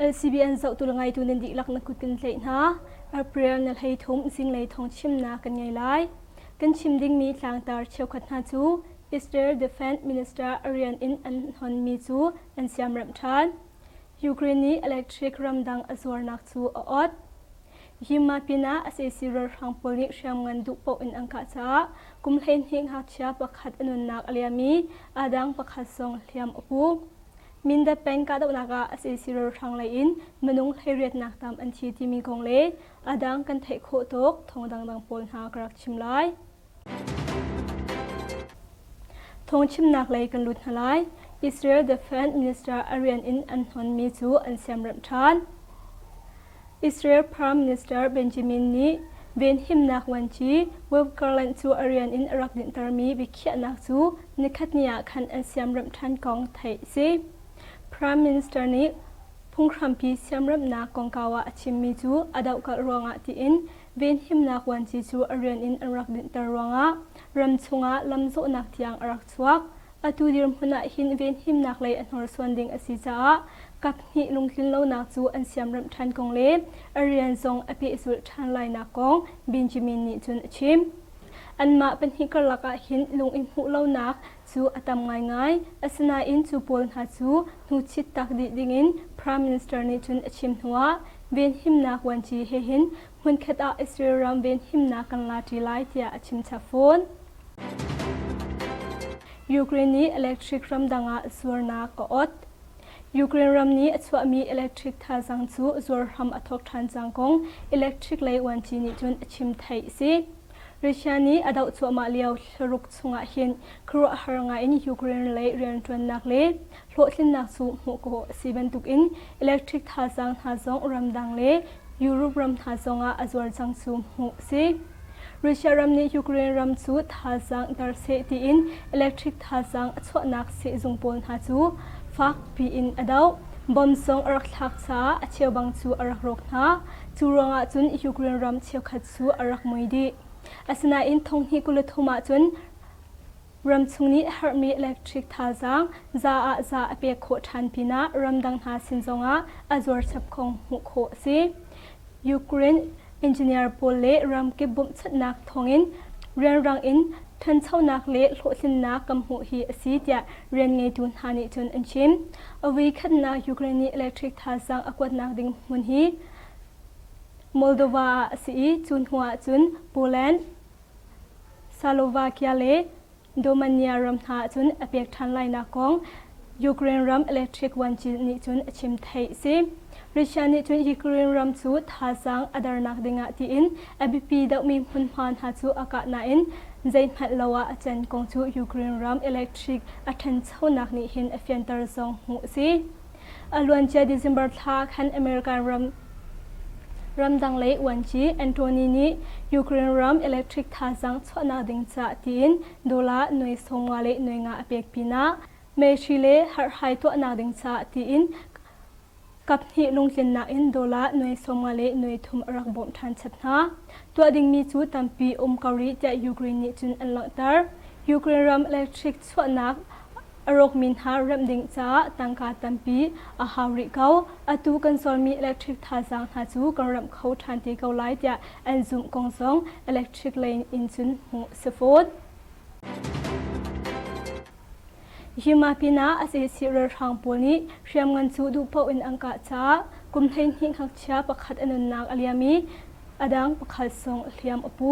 LCBN zohtu le ngeitu nan dihlak na kut kan tlaih hna. Our prayer na hlei thum zinglei thawng chimnak kan ngei lai. Kan chim dingmi tlangtar cheukhat hna cu is there defense minister arian in an honmi cu an siamremh ṭhan. Ukraine nih electric ramdang a zuarnak cu a awt. Hi ma pinah sac ralhrang pawl nih hriamngan duh paoh in an kah caah kum hleihnih ngakchia pakhat a nunnak a liam i aa dang pakhat zong hliam a pu. Mindat peng kahdohnak ah sac ralhrang lei in minung hleiriatnak tam an thi timi kong le a dang kan theih khawh tawk thawng dangdang pawl hna ka rak chim lai. Thawngchimnak lei kan lut hna lai. Israel Defense Minister a rian in an hnonmi cu an siamremh ṭhan. Israel Prime Minister Benjamin nih venhimnak vuanci Wolf Garland cu a rian in a rak dinhtermi biakhiahnak cu nikhatni ah khan an siamremh ṭhan kong theih a si. Prime Minister nih phunghrampi siamremhnak kongkau ah a chimmi cu a dohkalh ruangah tiin venhimnak vuanci cu a rian in an rak dinhter ruangah ram chungah lam zawhnak tiang a rak chuak. Atu dirhmun ah hin venhimnak lei a hnorsuan ding a si caah kaphnih lungtlin lonak cu an siamremh ṭhan kong le a rian zong a pehzulh ṭhan lainak kong Benjamin nih cun a chim. Anmah pahnih karlak ah hin lung in hmuh lonak cu a tam ngaingai. Asinain cu pawl hna cu hnuchit tak dih dingin Prime Minister nih cun a chim hnuah venhimnak vuanci he hin hmunkhat ah Israel ram venhimnak kan la ṭi lai tiah a chim chap fawn. Ukraine nih electric ramdang ah zuarnak a ot. Ukraine ram nih a chuahmi electric thazaang cu zuar hram a thawk ṭhan cang kong electric lei vuanci nih cun a chim theih a si. Russia nih a doh cuahmah lio thlaruk chungah hin khuaruahhar ngaiin Ukraine lei rianṭuannak le hlawhtlinnak cu hmuh khawh a si bantukin electric thazaang hna zong ramdang le Europe ram hna zongah a zuar cang cu hmuh a si. Russia ram nih Ukraine ram cu thazaang ter seh tiin electric thazaang a chuahnak sehzung pawl hna cu fak piin a doh. Bomb zong a rak thlak caah a cheubang cu a rak rawk hna. Cu ruangah cun Ukraine ram cheukhat cu a rak mui dih. Asinain thong hnih kul thum ahcun ramchung nih herhmi electric thazaang za ah za a pek khawh ṭhan pinah ramdang hna sin zongah a zuarchap kong hmuh khawh a si. Ukraine engineer pawl le ramkip bawmhchanhnak thawngin rianrang in ṭhanchonak le hlawhtlinnak kan hmuh hi a si tiah rian ngeitu hna nih cun an chim. A vui khatnak Ukraine nih electric thazaang a kuatnak ding hmun hi Moldova ah a si i cu hnu ahcun Poland, Slovakia le Romania ram hna ahcun a pek ṭhan lainak kong Ukraine ram electric vuancil nih cun a chim theih a si. Russia nih cun Ukraine ram cu thazaang a darnak dingah tiin a biapi deuhmi hmunhma hna cu a kah nain zeihmanh lo ah a can kong cu Ukraine ram electric a ṭhanchonak nih hin a fianter zong hmuh a si. A luancia December thla khan America ram ramdang lei uanci Anthony nih Ukraine ram electric thazaang chuahnak ding ca tiin dollar noi songa le noi nga a pek pinah meshi le harhhai tuahnak ding ca tiin kaphnih lungtlinnak in dollar noi songa le noi thum a rak bawmh ṭhan chap hna. Tuah dingmi cu tampi um ko rih tiah Ukraine nih cun an langhter. Ukraine ram electric chuahnak A rawkmi hna remh ding caah tangka tampi a hau rih ko. Atu kan solmi electric thazaang hna cu kan remh kho ṭhan te ko lai tiah an zumh kong zong electric lane in cun hmuh si fawn. Hi ma pinah a sesi ralhrang pawl nih hriamngan cu duh paoh in an kah caah kum hleihnih ngakchia pakhat a nunnak a liam i a dang pakhat zong hliam a pu.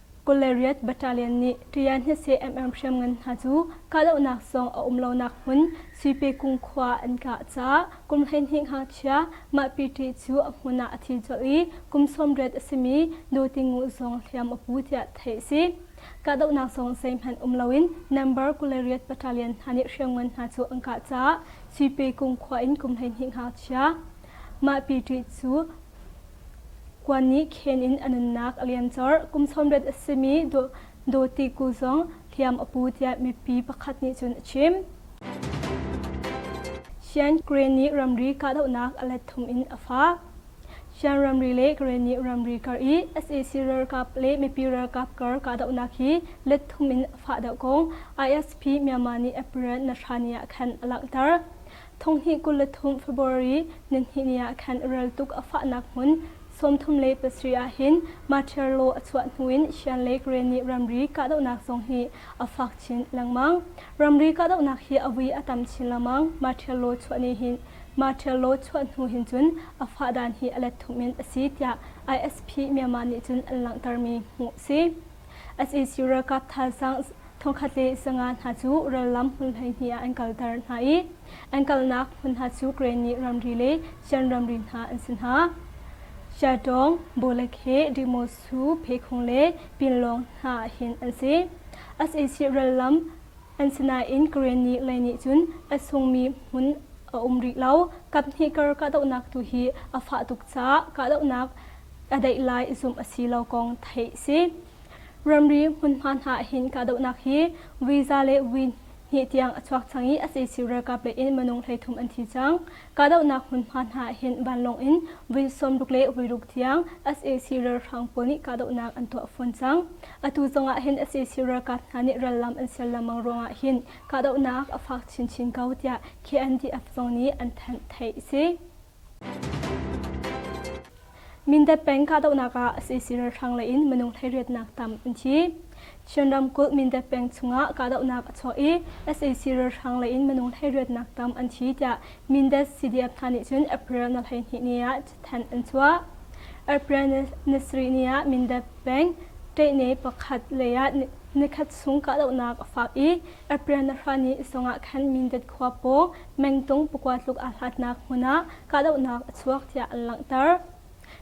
Golariyat Battalion nih Ṭian hnese MM hriamngan hna cu kahdohnak zong a um lonak hmun Suipekung khua an kah caah kum hleihnih ngakchia mahpi ṭih cu a hmun ah a thi colh i kum sawm riat a simi Dotingu zong hliam a pu tiah theih a si. Kahdohnak zong zeihmanh um loin Nambar Golariyat Battalion hna nih hriamngan hna cu an kah caah Suipekung khua in kum hleihnih ngakchia mahpi ṭih cu Kuan nih khen in a nunnak a liam colh. Kum sawmriat a simi Dawti Ku zong hliam a pu tiah mipi pakhat nih cun a chim. Sian Kre nih ramri kahdohnak a let thum in a fah. Sian ramri le Kre nih ramri kar i sac ralkap le mipi ralkap kar kahdohnak hi let thum in a fah deuh ko. ISP Myanmar nih April na Shani ah khan a langhter. Thonghnih kul le thum February nihnih ni ah khan rel tuk a fahnak hmun sawmthum le pasarih ah hin Matiarlo a chuah hnuin Shan Lake rian nih ramri kahdohnak zong hi a fak chin lengmang. Ramri kahdohnak hi a vui a tam chin lengmang. Matiarlo chuah ni hin Matiarlo chuah hnu hin cun a fahdan hi a let thum in a si tiah ISP Myanmar nih cun an langhtermi hmuh a si. SEC ralkap thazaang Thawkhatte sanga hna cu rallam hmun hleihnih ah an kalter hna i an kalnak hmun hna cu Granny ramri le Shan ramri hna an si hna. Shatong, Bolekhe, Dimosu, Pheikhong le Pinlong hna hin an si. SAC rallam an si nain Granny lei nih cun a sungmi hmun a um rih lo. Kaphnih kar kahdohnak tu hi a fah tuk caah kahdohnak a daih lai zumh a si lo kong theih si. Ramri hmunhma hna ahhin kahdohnak hi visa le vui hnih tiang a chuak cang i a sisir ralkap lei in minung hleithum an thi cang. Kahdohnak hmunhma hna ahhin vanlawng in vui sawmruk le vuiruk tiang sac ralhrang pawl nih kahdohnak an tuah fawn cang. Atu zong ahhin sac ralkap hna nih rallam an sial lengmang ruang ahhin kahdohnak a fak chinchin ko tiah KNDF zong nih an thanh theih a si. Mindat peng kahdohnak ah sac ralhrang lei in minung thleiriatnak tam an thi. Chin ramkulh Mindat peng chungah kahdohnak a chuah i sac ralhrang lei in minung thleiriatnak tam an thi tiah Mindat CDF hna nih cun April na hleihnih ni ah cathanh an chuah. April ni sarih ni ah Mindat peng Ṭehne pakhat lei ah nikhat chung kahdohnak a fak i Aprianahra nih isong ah khan Mindat khua paw mengtung pakua tluk aa hlatnak hmun ah kahdohnak a chuak tiah an langhter.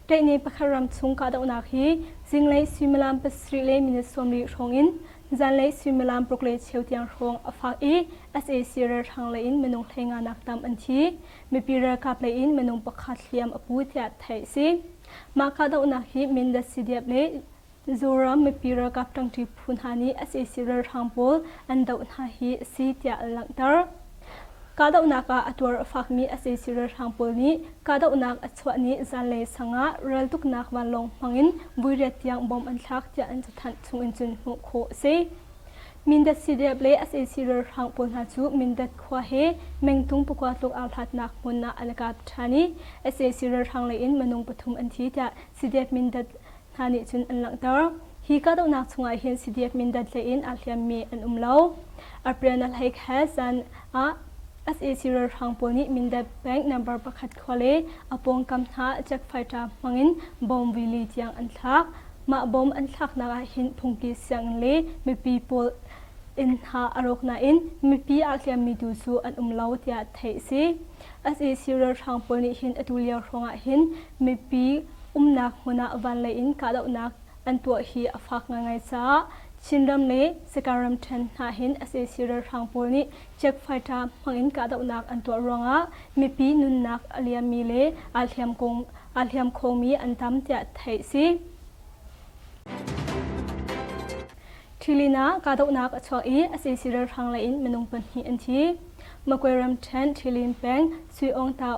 Ṭaihni pakhat ram chung kahdohnak hi zinglei suimilam pasarih le minute sawmri hrawng in zanlei suimilam paruk le cheu tiang hrawng a fak i sac ralhrang lei in minung hlenganak tam an thi. Mipi ralkap lei in minung pakhat hliam a pu tiah theih a si. Mah kahdohnak hi Mindat CDF le Zoram mipi ralkap ṭangṭi phu hna nih sac ralhrang pawl an doh hna hi a si tiah a langhter. Kahdohnak ah a tuar a fakmi sac ralhrang pawl nih kahdohnak a chuah ni zanlei sang ah raltuknak vanlawng hmangin vuiriat tiang bom an thlak tiah an cathanh chungin cun hmuh khawh a si. Mindat CDF le sac ralhrang pawl hna cu Mindat khua he mengtung pakua tluk aa hlatnak hmun ah an i kap ṭhan i sac ralhrang leiin minung pathum an thi tiah CDF Mindat hna nih cun an langhter. Hi kahdohnak chungah hin CDF Mindat hlei in aa hliammi an um lo. Arpyanalhaik he zan ah sac ralhrang pawl nih Mindat Bank number pakhat khua le a pawngkam hna check fighter hmangin bomb rili tiang an thlak. Mah bomb an thlaknak ah hin phungki sianginn le mipi pawl inn hna a rawk nain mipi aa hliammi tu cu an um lo tiah theih a si. sac ralhrang pawl nih hin atu lio hrawngah hin mipi umnak hmun ah vanlei in kahdohnak an tuah hi a fak ngaingai caah Chinram le Sakae ramṭhen hna hin sac ralhrang pawl nih check fighter hmangin kahdohnak an tuah ruangah mipi nunnak a liammi le aa hliam kong aa hliam khomi an tam tiah theih a si. Ṭhilin ah kahdohnak a chuak i sac ralhrang lei in minung pahnih an thi. Magway ramṭhen Ṭhilin peng Sui Ong Tau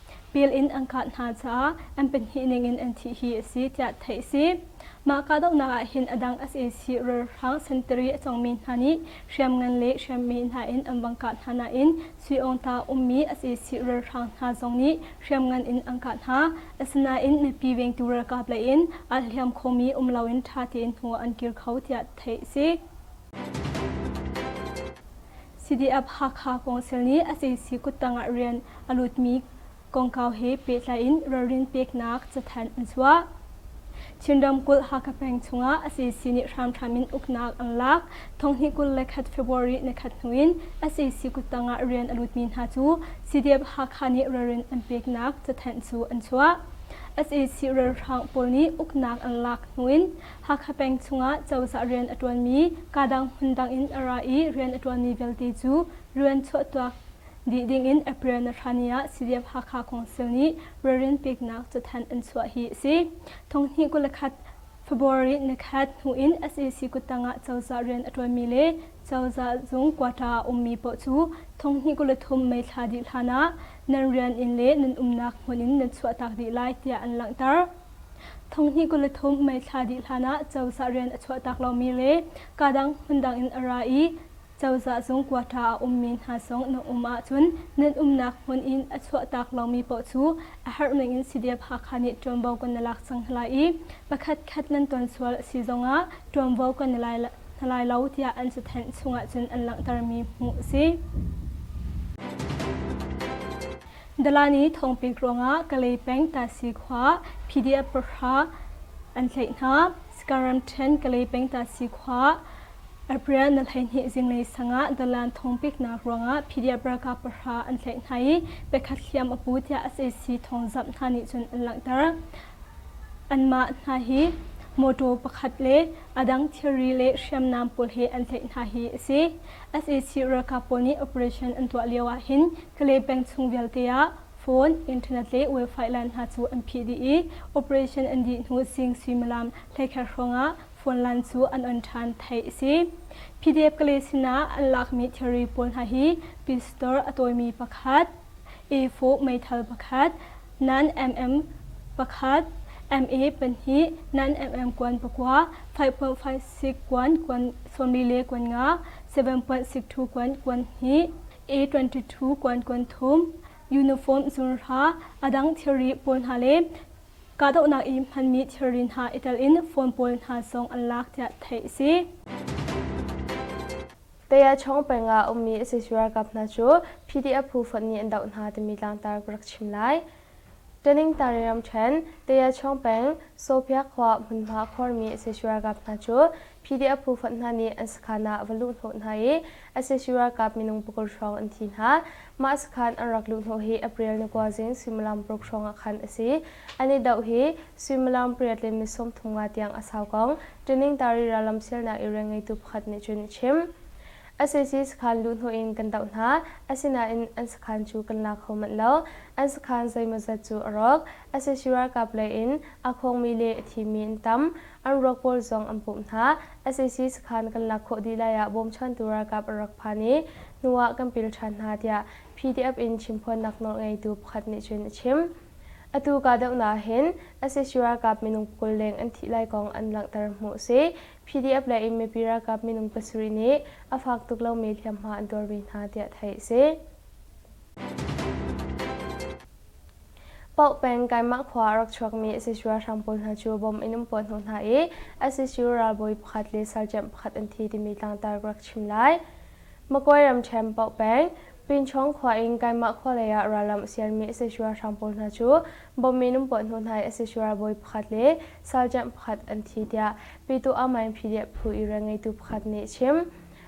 pil in an kah hna caah an pahnih ningin an thih hi a si tiah theih a si. Mah kahdohnak ah hin a dang sac ralhrang sentari a cawngmi hna nih hriam ngan le hriammi hna in an vang kah hna nain Sui Aung Ta ummi sac ralhrang hna zong nih hriam ngan in an kah hna. Asinain mipi vengtu ralkap lei in aa hliam khomi um loin ṭha tein hnu an kir kho tiah theih a si. CDF-Hakha Council nih sac kuttang ah rian a lutmi kongkau he pehtlai in ralrin peknak cathanh an chuah. Chin ramkulh Hakha peng chungah sac nih hramthram in uknak an lak. Thonghni kul le khat February ni khat hnu in sac kuttang ah rian a lutmi hna cu CDF-Hakha nih ralrin an peknak cathanh cu an chuah. sac ralhrang pawl nih uknak an lak hnu in Hakha peng chungah cozah rian a ṭuanmi kaa dang hmun dang in a ra i rian a ṭuanmi vialte cu rian chuahtuak dih dingin April nahrani ah CDF-Hakha Council nih ralrin peknak cathanh an chuah hi a si. Thonghni kul le khat February ni khat hnu in SAC kuttang ah cozah rian a ṭuanmi le cozah zung quota a ummi paoh cu thonghni kul le thum Mei thla dih hlanah nan rian in le nan umnak hmun in nan chuahtak dih lai tiah an langhter. Thonghnih kul le thum mei thla dih hlanah cozah rian a chuahtak lomi le kadang hmundang in a ra i cozah zung quarter a ummi hna zong na um ahcun nan umnak hmun in a chuahtak lomi paoh cu a harhning in CDF Hakha nih ṭuanvo kan na lak cang hna lai i pakhatkhat nan ton sual a si zongah ṭuanvo kan na lai hna lai lo tiah an cathanh chung ahcun an langhtermi hmuh a si. Dalani thawngpek ruangah Kalay peng Tahsi khua PDF pahra an tlaih hna. Sakaram ṭhen Kalay peng Tahsi khua April na hleihnih zinglei sangah dalan thawngpeknak ruangah PDF ralkap pahra an tlaih hna i pakhat hliam a pu tiah SAC thawngzamh hna nih cun an langhter. Anmah hna hi mawṭaw pakhat le a dang thilri le hriamnam pawl he an tlaih hna hi a si. SAC ralkap pawl nih operation an tuah lio ah hin Kale peng chung vialte ah phone, internet le wifi line hna cu an phih dih i operation an dih hnu zing suimilam hleikher hrawngah phone line cu an on ṭhan, theih a si. PDF-Kale sinah an lakmi thilri pawl hna hi Peace Store a tawimi pakhat, A4 meithal pakhat, nan MM pakhat, MA pahnih, nan MM kuan pakua, 5.56 kuan, kuan sawm li le kuan nga, 7.62 kuan, kuan hnih, A22 kuankuan thum, uniform zunhra, a dang thilri pawl hna le kahdohnak i hmanmi thilri hna i telin phone pawl hna zong an lak tiah theih a si. Tayachong pengah a ummi a casi ralkap hna cu PDF phu fonh nih an doh hna timi tlangtar ka rak chim lai. Taningtari ramṭhen, Tayachuang peng, Sopya khua hmunhma khuarmi sac ralkap hna cu PDF phu fonh hna nih an sakhan ah va luhhnawh hna i a sac ralkap minung pakul hrawng an thi hna. Mah sakhan an rak luhhnawh hi April ni kua zing suimilam paruk hrawng ah khan a si. An i doh hi suimilam pariat le ni sawmthum nga tiang a sau kong Taningtari rallam sialnak i rian ngeitu pakhat nih cun a chim. Assesi sakhan luhhnawh in kan doh hna, asinain an sakhan cu kan la kho manh lo. An sakhan zeimawzat cu a rawk. Assesi ralkap lei in aa khawngmi le a thimmi an tam. An ruak pawl zong an pumh hna. Assesi sakhan kan lak khawh dih lai ah bawmchantu ralkap an rak phan i hnu ah kan pil ṭhan hna tiah PDF in chimphuannak nawl ngeitu pakhat nih cun a chim. Atu kahdohnak ah hin Assesi ralkap minung kul leng an thih lai kong an langhter hmuh a si. PDF le inn mipi ralkap minung pasarih nih a fak tuk lomi hliamhma an tuar ve hna tiah theih a si. Paoh peng Kaimah khua a rak chuakmi SSU ralhrang pawl hna cu bom in um puah hnawh hna i SSU ralbawi pakhat le sergeant pakhat an thi timi tlangtar rak chim lai. Makuai ramṭhen Paoh peng Pinchawng khua in Kaimah khua lei ah ralram a sialmi SSU ralhrang pawl hna cu Bawm minung puah hnawh hna i asishura bawi pakhat le salṭianh pakhat an thi tiah Pitu Amain PDF phu irel ngeitu pakhat nih a chim.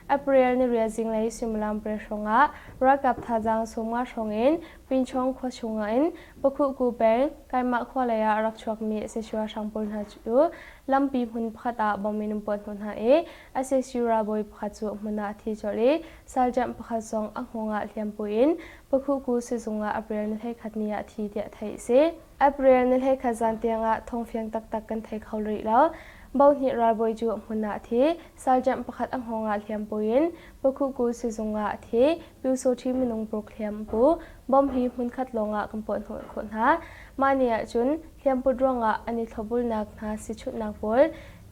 April ni rial zinglei suimilam pariat hrawngah ralkap thazaang sawmnga hrawngin Pinchawng khua chungah in Pakhuhku peng Kaimah khua leiah a rak chuakmi asishura hrang pawl hna cu lampi hmun pakhat ah bawm minung puah hnawh hna i asishura bawi pakhat cu a hmun ah a thi colh i salṭianh pakhat zong a hngawng ah hliam puin Pakuku sizung ah April nihleikhat ni ah thi tiah theih a si. April nihleikhat zan tiangah thongfiang taktak kan thei kho rih lo. Bohnih ralbawi cu hmun ah a thi. Sergeant pakhat a hngawng ah hliam puin Pakuku sizung ah a thi. Pyu Sohti minung paruk hliam a pu. Bomb hi hmunkhat lawngah kan puahhnawh khawh hna. Mah ni ahcun hliamput ruangah an i thlawbulnak hna sichunhnak pawl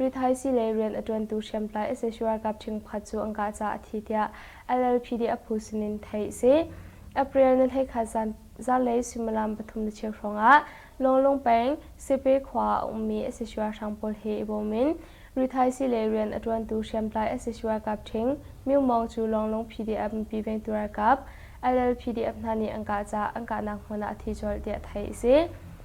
rithaisii le rian a ṭuantu hriamtlai sac ralkap ṭhingphat cu an kah caah a thi tiah LLPD a phu sin in theih a si. April nihleikhat zan, zanlei suimilam pathum le cheu hrawngah Lawnglung peng Sepe khua ah a ummi sac ralhrang pawl he i bawm in rithaisii le rian a ṭuantu hriamtlai sac ralkap ṭhing Myo Mawng cu Lawnglung PDF mipi vengtu ralkap LLPDF hna nih an kah caah an kahnak hmun ah a thi colh tiah theih a si.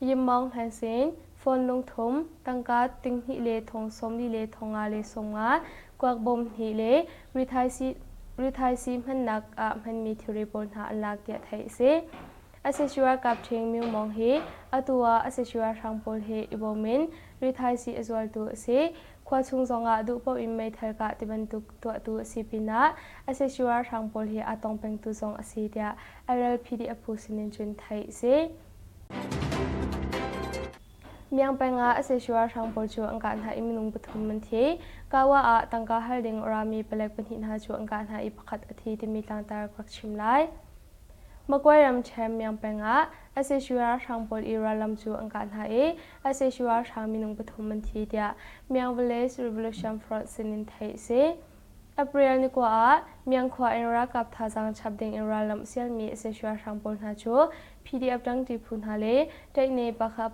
Yim Maung Hlan Sein, Fawn Lung Thum, tangka tinghnih le thong sawmli le thong nga le sawmnga, kuak bawm hnih le rithaisii hmannak ah hmanmi thilri pawl hna an lak tiah theih a si. Asesio ralkap ṭhing Myo Maung hi atu ah Asesio ralhrang pawl he i bawm in rithaisii a zualtu a si. Khua chung zongah duh paoh in meithal kah tibantuk tuahtu a si pinah Asesio ralhrang pawl hi aa tong pengtu zong a si tiah RLPD a phu sinin cun theih a si. Miangpeng ah asesua hrang pawl cu an kah hna i minung pathum an thi. Kawa ah tangka hal ding rami palek pahnih hna cu an kah hna i pakhat a thi timi tlangtar ka rak chim lai. Makwe ramṭhen Miangpeng ah asesua hrang pawl i rallam cu an kah hna i asesua hrang minung pathum an thi tiah Miang Village Revolution Front sin in theih a si. April ni kua ah Miang khua in ralkap thazaang chap ding in rallamh sialmi asesua hrang pawl hna cu PDF ṭangṭi phu hna le Taihne-Pakha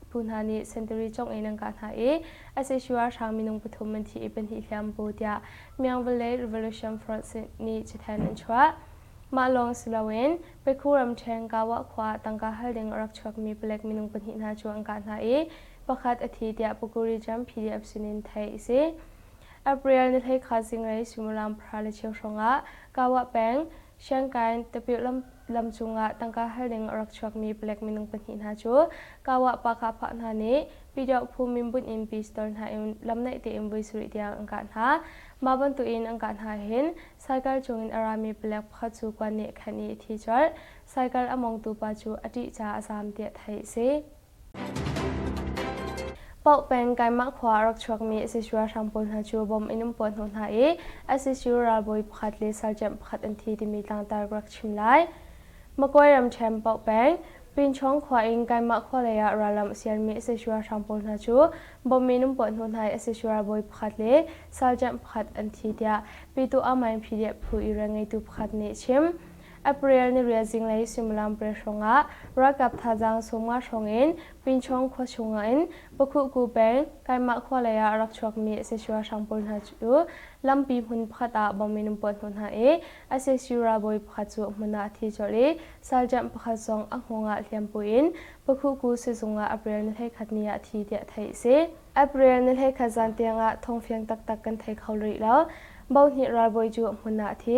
phu hna nih sentari congh in an kah hna i sac ralhrang minung pathum an thi i pahnih hliam bu tiah Myanwar le Revolution Front nih cathanh an chuah. Mah lawng si loin Pekhu ramṭheng Gawah khua ah tangka hal ding a rak chuakmi palek minung pahnih hna cu an kah hna i pakhat a thi tiah Puku Region PDF sinin theih a si. April ni hleikha zinglei suimilam pahra le cheu hrawngah Gawah peng Sianginn tapirh lam cungah tangka hal ding a rak chuakmi palek minung pahnih hna cu Kawa Pakha hna nih Pyidawphu minbunh in Pi Store hna in lam naih tein voi sarih tiang an kah hna. Mah bantukin an kah hna hin saikal cungin a rami palek pakhat cu kuan nih a khenh i a thi colh. Saikal a mongtu pa cu a ṭih caah a zaam tiah theih a si. Paoh peng Kaimah khua a rak chuakmi ICC ralhrang pawl hna cu bomb in an puah hnawh hna i ICC ralbawi pakhat le sergeant pakhat an thi timi tlangtar ka rak chim lai. Makuai ramṭhen Paoh peng Pinchawng khua in Kaimah khua lei ah ralram a siarmi ICC ralhrang pawl hna cu bomb in an puah hnawh hna i ICC ralbawi pakhat le sergeant pakhat an thi tiah Pyituah Main PDF phu irael ngeitu pakhat nih a chim. April niriat zinglei suimilam pariat hrawngah ralkap thazaang sawmnga hrawng in Pinchawng khua chungah in Pakhuhku peng Kaimah khua leiah a rak chuakmi sac ralhrang pawl hna cu lampi hmun pakhat ah bomb in an puah hnawh hna i a sac ralbawi pakhat cu a hmun ah a thi colh i saljamh pakhat zong a hngawngah hliam buin Pakhuhku sizung ah April ni hleikhat ni ah thi tiah theih a si. April ni hleikhat zan tiangah thong fiang taktak kan thei kho rih lo. Bo hnih ralbawi cu a hmun ah a thi.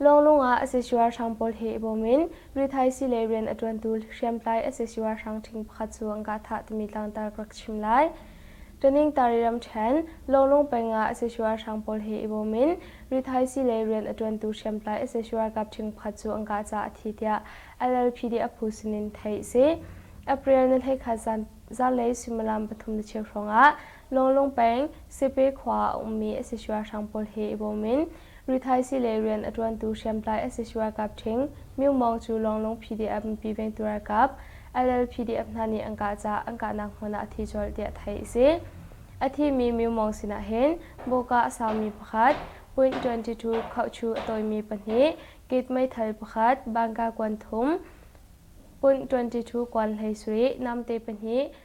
Lawnglung ah asisi ralhrang pawl he i bawm in rithaisi le rian a ṭuantu hriamtlai asisi ralhrang ṭhing pakhat cu an kah thah timi tlangtar ka rak chim lai. Ṭaningtari ramṭhen Lawnglung peng ah asisi ralhrang pawl he i bawm in rithaisi le rian a ṭuantu hriamtlai asisi ralkap ṭhing pakhat cu an kah caah a thi tiah LLPD a phu sin in theih a si. April ni hlei khat zanlei suimilam pathum na chiat hrawng ah Lawnglawng peng Sepe khua a ummi asisua hrang pawl he i bawm in ruthaisi le rian a ṭuantu hriamtlai asisua ralkap ṭhing Myo Maung cu Lawnglawng PDF mipi vengtu ralkap LLPDF hna nih an kah caah an kahnak hmun ah a thi colh tiah theih a si. A thimi Myo Maung sinah hin bawka a saumi pakhat, point 22 khauhchu a tawimi pahnih, gate meithal pakhat, bangka kuan thum, point 22 kuan hleisuri, namte pahnih,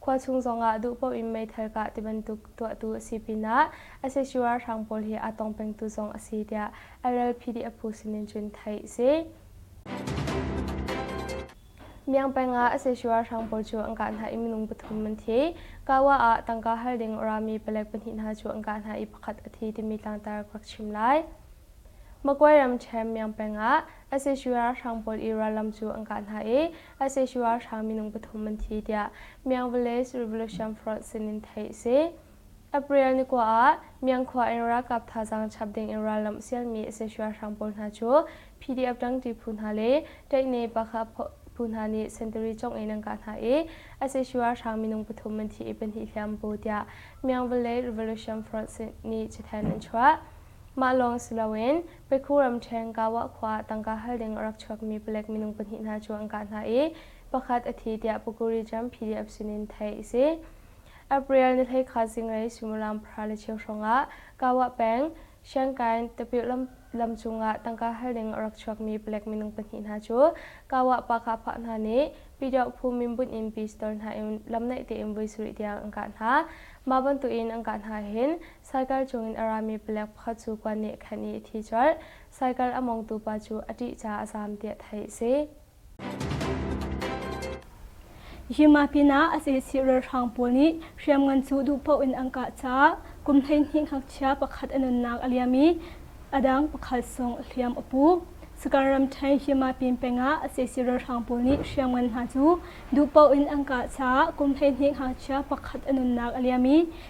khua chung zongah duh paoh in meithal kah tibantuk tuahtu a si pinah SHU ralhrang pawl hi aa tong pengtu zong a si tiah RLPDF phu sinin cun theih a si. Miang peng ah SHU ralhrang pawl cu an kah hna i minung pathum an thi. Kawa ah tangka hal ding rami palek pahnih hna cu an kah hna i pakhat a thi timi tlangtar kuak chim lai. Makwe ram Chem Miang peng ah SHU ralhrang pawl i rallam cu an kah hna i ICC ralhrang minung pathum an thi tiah Myank Village Revolution Front sin in theih a si. April ni kua ah Myank khua in ralkap thazaang chap ding in rallamh sialmi ICC ralhrang pawl hna cu PDF Tangti phu hna le Taihne Pakha phu hna nih sentari congh in an kah hna i ICC ralhrang minung pathum an thi i pahnih hliam bu tiah Myank Village Revolution Front nih cithen an chuah. Mah lawng si loin Pekhu ramṭheng Gawa khua ah tangka hal ding a rak chuakmi palek minung pahnih hna cu an kah hna i pakhat a thi tiah Pukuri-Jam PDF sinin theih a si. April ni hleikha zinglei suimilam pahra le cheu hrawngah Gawa peng Shankain tapir lam cungah tangka hal ding a rak chuakmi palek minung pahnih hna cu Gawa Pakahpah hna nih Pyidawphu min bunh in pistol hna in lam naih tein voi sarih tiang an kah hna. Mah bantukin an kah hna hin Saikal cungin a rami palek pakhat cu kua nih a khenh i a thi colh. Saikal a mongtu pa cu a ṭih caah a zaam tiah theih a si. Hi mah pinah a cecih ralhrang pawl nih hriamngan cu duh paoh in an kah caah kum hleihnih ngakchia pakhat a nunnak a liam i a dang pakhat sung a hliam a pu. Sakar ramṭhen Himapin pengah a cecih ralhrang pawl nih hriamngan hna cu duh paoh in an kah caah kum hleihnih ngakchia pakhat a nunnak a liam i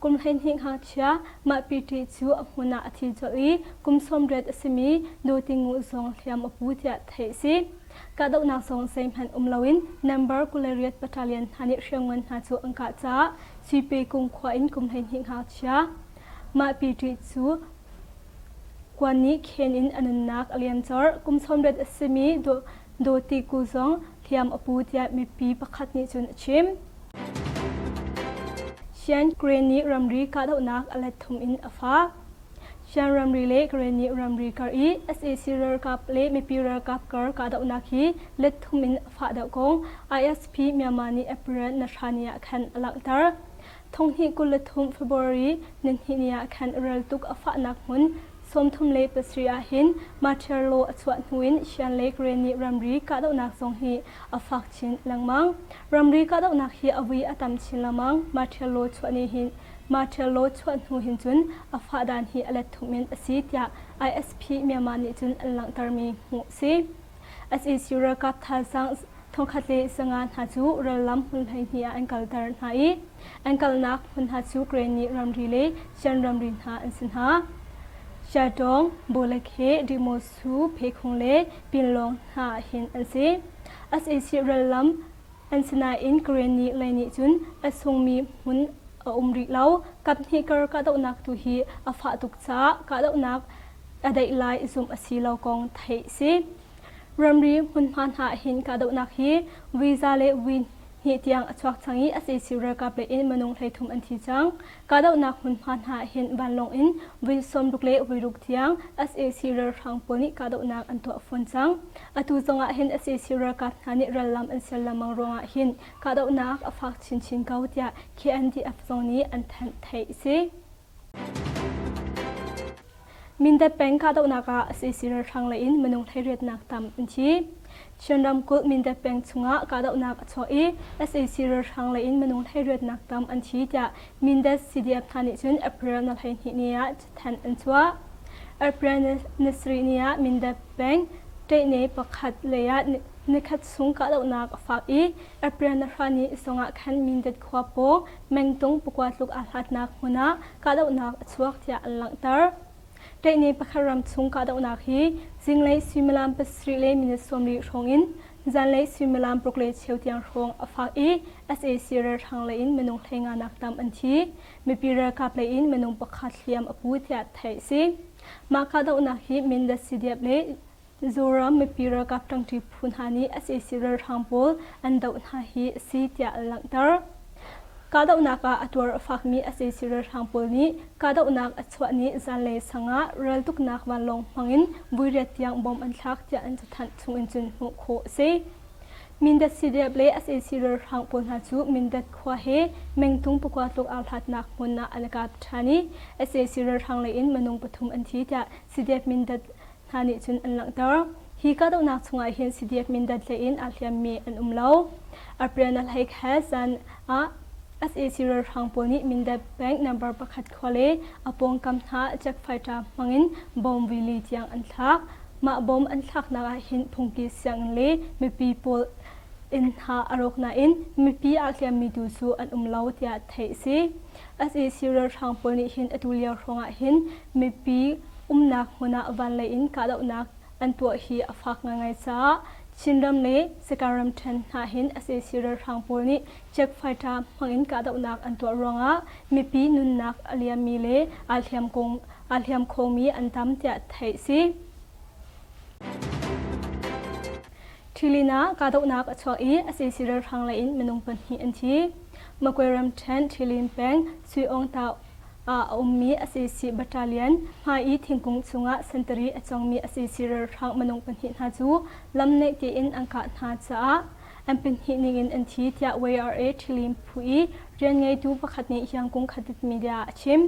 Kum hleihnih ngakchia mahpite cu a hmun ah a thi colh i kum sawmriat a simi Nu Ti Nguh zong hliam a pu tiah theih a si. Kahdohnak zong zeihmanh um loin Nambar Kulariat Battalion hna nih hriamngan hna cu an kah caah Suipekung khua in kum hleihnih ngakchia mahpite cu Kuan nih Khen in a nunnak a liam colh. Kum sawmriat a simi Dawti Ku zong Hliam a pu tiah mipi pakhat nih cun a chim. Shan Grain nih ramri kahdohnak a let thum in a fah. Shan ramri le Grain nih ramri kar i sac ralkap le mipi ralkap kar kahdohnak hi let thum in a fah deuh kong ISP Myanmar nih April na hra ni ah khan a langhter. Thonghnih kul le thum February nihnih ni ah khan rel tuk a fahnak hmun sawmthum le pasarih ah hin Matiarlo a chuah hnuin Shan Lake rain nih ramri kahdohnak zong hi a fak chin lengmang. Ramri kahdohnak hi a vui a tam chin lengmang. Matiarlo chuah ni hin Matiarlo chuah hnu hin cun a fahdan hi a let thum in a si tiah ISP Myanmar nih cun an langhtermi hmuh a si. SAC ralkap thazaang thongkhat le sanga hna cu rallam hmun hleihnih ah an kalter hna i an kalnak hmun hna cu Granny ramri le Shan ramri hna an si hna. Shatong, Bolakhe, Dimosu, Phekhung le Pinlong hna hin an si. SAC rallam an sinain Granny lei nih cun a sungmi hmun a um rih lo. Kaphnih kar kahdohnak tu hi a fah tuk caah kahdohnak a deih lai zumh a si lo kong theih si. Ramri hmunhma hna hin kahdohnak hi visa le vi hnih tiang a chuak cang i a sesi ralkap le in minung hleithum an thi cang. Kahdohnak hmunhma hna hin vanlawng in vui sawmruk le vuiruk tiang sac ralhrang pawl nih kahdohnak an tuah fawn cang. Atu zongah hin sac ralkap hna nih rallam an ser lengmang ruangah hin kahdohnak a fak chinchin ko tiah KNDF zong nih an thanh theih si. Mindat peng kahdohnak ah sac ralhrang lei in minung thleiriatnak tam an thi. Chin ramkulh Mindat peng chungah kahdohnak a chuah i sac ralhrang lei in minung thleiriatnak tam an thi tiah Mindat CDF hna nih cun April na hleihnih ni ah cathanh an chuah. April ni sarih ni ah Mindat peng Ṭeihne pakhat lei ah nikhat chung kahdohnak a fak i April ni hra ni zongah khan Mindat khua pawng mengtung pakua tluk aa hlatnak hmun ah kahdohnak a chuak tiah an langhter. Ṭaihne pakhat ram chung kahdohnak hi zinglei suimilam pasarih le minute sawmri hrawng in zanlei suimilam paruk le cheu tiang hrawng a fak i sac ralhrang lei in minung hlenganak tam an thi. Mipi ralkap lei in minung pakhat hliam a pu tiah theih a si. Mah kahdohnak hi Mindat, Sidiap le Mizoram mipi ralkap ṭangṭi phu hna nih sac ralhrang pawl an doh hna hi a si tiah a langhter. Kahdohnak ah a tuar a fakmi sac ralhrang pawl nih kahdohnak a chuah ni zanlei sang ah raltuknak vanlawng hmangin vuiriat tiang bom an thlak tiah an cathanh chungin cun hmuh khawh a si. Mindat CDF le sac ralhrang pawl hna cu Mindat khua he mengtung pakua tluk aa hlatnak hmun ah an i kap ṭhan i sac ralhrang lei in minung pathum an thi tiah CDF Mindat hna nih cun an langhter. Hi kahdohnak chungah hin Sidiek Mindat hlei in aa hliammi an um lo. Arpyana Lhaik he zan ah sac ralhrang pawl nih Mindat bank number pakhat khua le a pawngkam hna check fighter hmangin bomb rili tiang an thlak. Mah bomb an thlaknak ah hin phungki sianginn le mipi pawl inn hna a rawk nain mipi aa hliammi tu cu an um lo tiah theih a si. sac ralhrang pawl nih hin atu lio hrawngah hin Mipi umnak hmun ah vanlei in kahdohnak an tuah hi a fak ngaingai caah Chinram le Sakae ramṭhen hna hin sac ralhrang pawl nih check fighter hmangin kahdohnak an tuah ruangah mipi nunnak a liammi le aa hliam kong aa hliam khomi an tam tiah theih a si. Ṭhilin ah kahdohnak a chuak i sac ralhrang lei in minung pahnih an thi. Magway ramṭhen Ṭhilin peng Sui Ong Tau ah a ummi sac battalion, hmai i thingkung chungah sentari a cawngmi sac ralhrang minung pahnih hna cu lam naih tein an kah hna caah an pahnih ningin an thi, tiah YRA Ṭhilim phu i rian ngeitu pakhat nih hiang kungkhatit media a chim.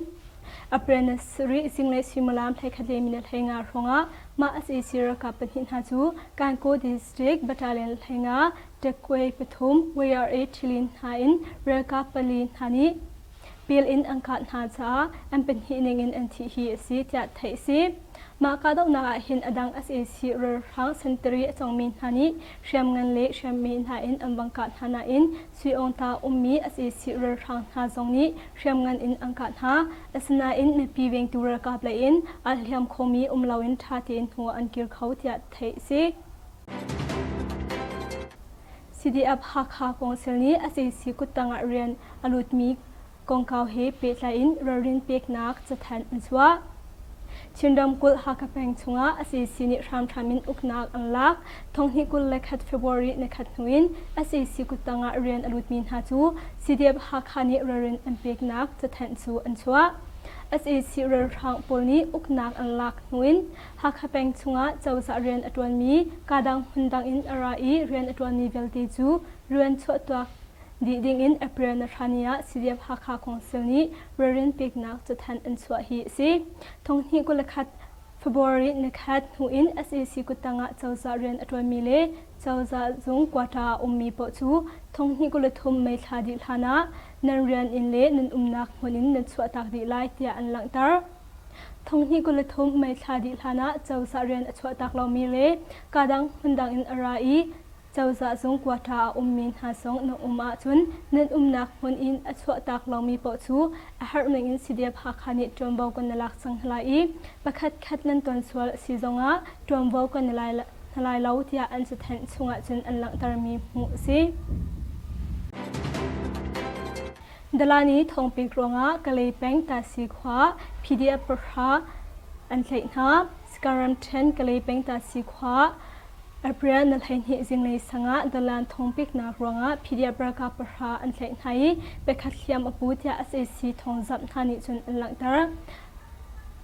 Apprentice rih zinglei suimilam hleikhat le minute hlei nga hrawngah mah sac ralkap pahnih hna cu Kankaw District Battalion hlei nga, Tekkwe pathum, YRA Ṭhilin hna in ralkap pali hna nih pil in an kah hna caah an pahnih ningin an thih hi a si tiah theih a si. Mah kahdohnak ah hin a dang sac ralhrang sentari a cawngmi hna nih hriam ngan le hriam me hna in an vang kah hna nain Sui Aung Ta ummi sac ralhrang hna zong nih hriam ngan in an kah hna. Asinain mipi vengtu ralkap lei in aa hliam khomi um loin ṭha tein hnu an kir kho tiah theih a si. CDF-Hakha Council nih sac kuttang ah rian a lutmi kongkau he pehtlai in ralrin peknak cathanh an chuah. Chin ramkulh Hakha peng chungah sac nih hramhram in uknak an lak. Thonghnih kul le khat February ni khat hnu in sac kuttang ah rian a lutmi hna cu CDF-Hakha nih ralrin an peknak cathanh cu an chuah. sac ralhrang pawl nih uknak an lak hnu in Hakha peng chungah cozah rian a ṭuanmi kaa dang hmun dang in a ra i rian a ṭuanmi vialte cu rian chuahtuak dih dingin April nahrani ah CDF-Hakha Council nih ralrin peknak cathanh an chuah hi a si. Thonghnih kul le khat February nikhat hnu in SAC kuttang ah cozah rian a ṭuanmi le cozah zung quota a ummi paoh cu thonghnih kul le thum Mei thla dih hlanah nan rian in le nan umnak hmun in nan chuahtak dih lai tiah an langhter. Thonghnih kul le thum mei thla dih hlanah cozah rian a chuahtak lomi le kadang hmundang in a ra i cozah zung quarter a ummi hna zong na um ahcun nan umnak hmun in a chuahtak lomi paoh cu a harhning in CDF Hakha nih ṭuanvo kan na lak cang hna lai i pakhatkhat nan ton sual a si zongah ṭuanvo kan na lai hna lai lo tiah an cathanh chung ahcun an langhtermi hmuh a si. Dalani thawngpek ruangah Kalay peng Tahsi khua PDF pahra an tlaih hna. Sakaram ṭhen Kalay peng Tahsi khua April na hleihnih zinglei sangah Dalan thawngpeknak ruangah PDF ralkap pahra an tlaih hna i pakhat hliam a pu tiah SAC thawngzamh hna nih cun an langhter.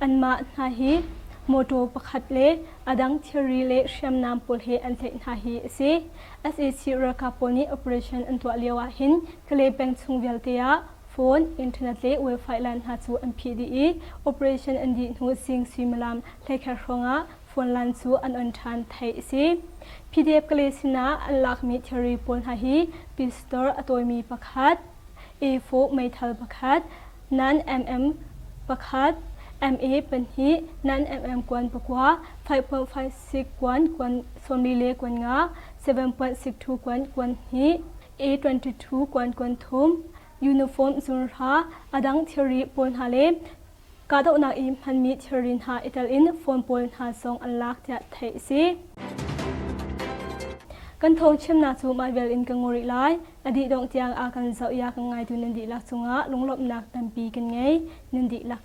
Anmah hna hi mawṭaw pakhat le a dang thilri le hriamnam pawl he an tlaih hna hi a si. SAC ralkap pawl nih operation an tuah lio ah hin Kale peng chung vialte ah phone, internet le wifi line hna cu an phih dih i operation an dih hnu zing suimilam hleikhat hrawngah phone line cu an on ṭhan, theih a si. PDF-Kale sinah an lakmi thilri pawl hna hi Pistol a tawimi pakhat, A4 meithal pakhat, nan-mm pakhat, MA pahnih, nan-mm kuan pakua, 5.56 kuan, kuan sawm li le kuan nga, 7.62 kuan, kuan hnih, A22 kuankuan thum, uniform zurhra, a dang thilri pawl hna le kahdohnak i hmanmi thilri hna i telin phone pawl hna zong an lak tiah theih a si. Kan thawngchimnak cu mah vel in ka ngaw rih lai. A dih dongh tiang a kan zoh i a kan ngaitu nan dihlak cungah lunglawmhnak tampi kan ngei. Nan dihlak